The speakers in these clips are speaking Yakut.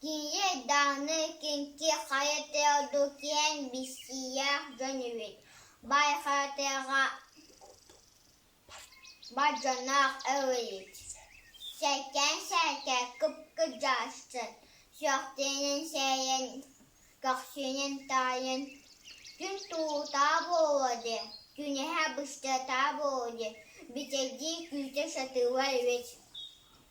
Тиийэ даҕаны кинини хайа тойон киэҥ биссиинэҕэ гынныбыт, байҕатыыга бадьанах эбиппит, сэргэн-сэргэн кып-кырдьааччы сөхтөрүн сэрэйэн, көхсүнэн таайан, күн тутаа буолуода, күнэһэ быстыта буолуода, бүтэйдии күүтэ сатыыллар эбит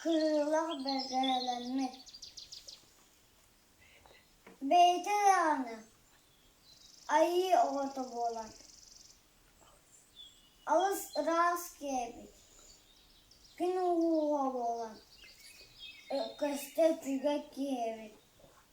Кыылах бэжээлэммит, бэйэтэ даҕаны айыы оҕото буолан алыс ыраас киэбит, күн уһууһа буолан көстө-түгэ киэбит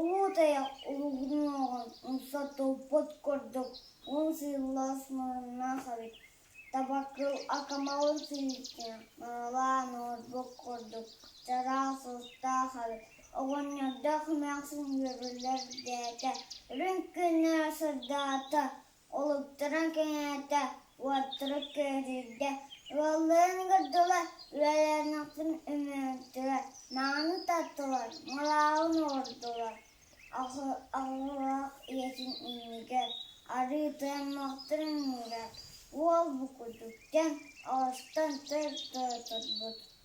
Уу Тайах уруһунуоҕун умса туппут курдук уон сыыллас муннуннаах эбит, табакыл акамалын сыһыытынан маналаан оҥорбут курдук чараас устаах эбит, оҕонньордоох эмээхсин үөрүүллэр диэки үрүҥ күннээх сырдаата Улуктаран кэҥээтэ, уоттары көтүрдэ, ыалларын көрдүлэр, үлэлээниэхтэрин үмүрүттүлэр, мааны таттылар, малаалын уурдулар, аҕылаах ийэтин иннигэр арыы тойоммохторун уурар уол букутуктан, оҕустан тыр тыа турбут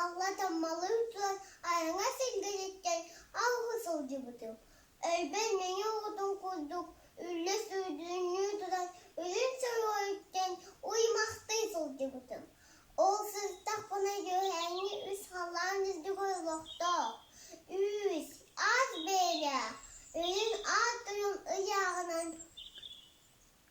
Алла Таммалыын суон айаҥа силгэниттэн алҕыы сылдьыбытым. Өйбөр мэҥэ оҕотун курдук үллэс үрдүнүү туран үрүҥ соройуттан уймахтыы сылдьыбытым. Ол сырдахпына үөһээҥҥи үс халаан үрдүгэр олохтоох, үүс, ас бэйэлээх, үрүҥ аат-тойон ыйааҕынан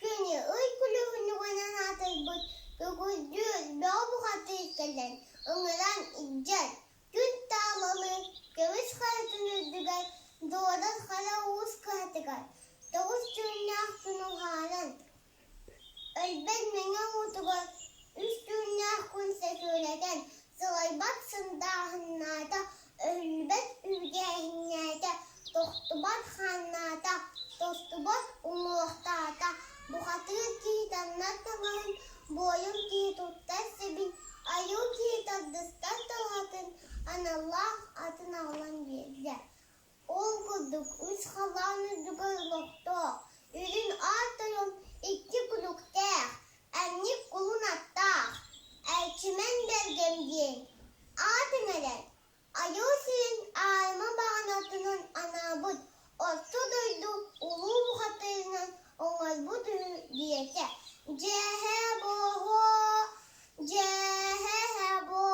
Кини ый көлүөнэҕинэн аатырбыт Күгүрдьү Лоо бухатыыр кэлэн ыҥыран илдьэр, күн тааланы көмүс харатын үрдүгэр дуодас хара уус кыһатыгар тоҕус түүннээх күн уһаанан, өлбөт мэҥэ уутугар үс түүннээх күн сөтүөлэтэн сылайбат сындааһыннаата Өлбөт үргээннээтэ, тохтубат ханнаата, тостубат уҥуохтаата, бухатыыр кии таҥнар таҥаһын, буойун кии туттар сэбин, айуу кии тардыстар талаатын, аналлаах атын аҕалан биэрдэ. Ол курдук үс халаан үрдүгэр олохтоох үрүн ааттарым икки кулуктээх, анньык кулун аттаах, Эрчимэн Бэргэм диэн аатын эрэр. Айыы сирин аарыма баҕанатынан анаабыт Орто дойду Улуу бухатыырынан оҥорбут үһү диэтэ. Дьэһэ-бохо, дьэһэ-бохо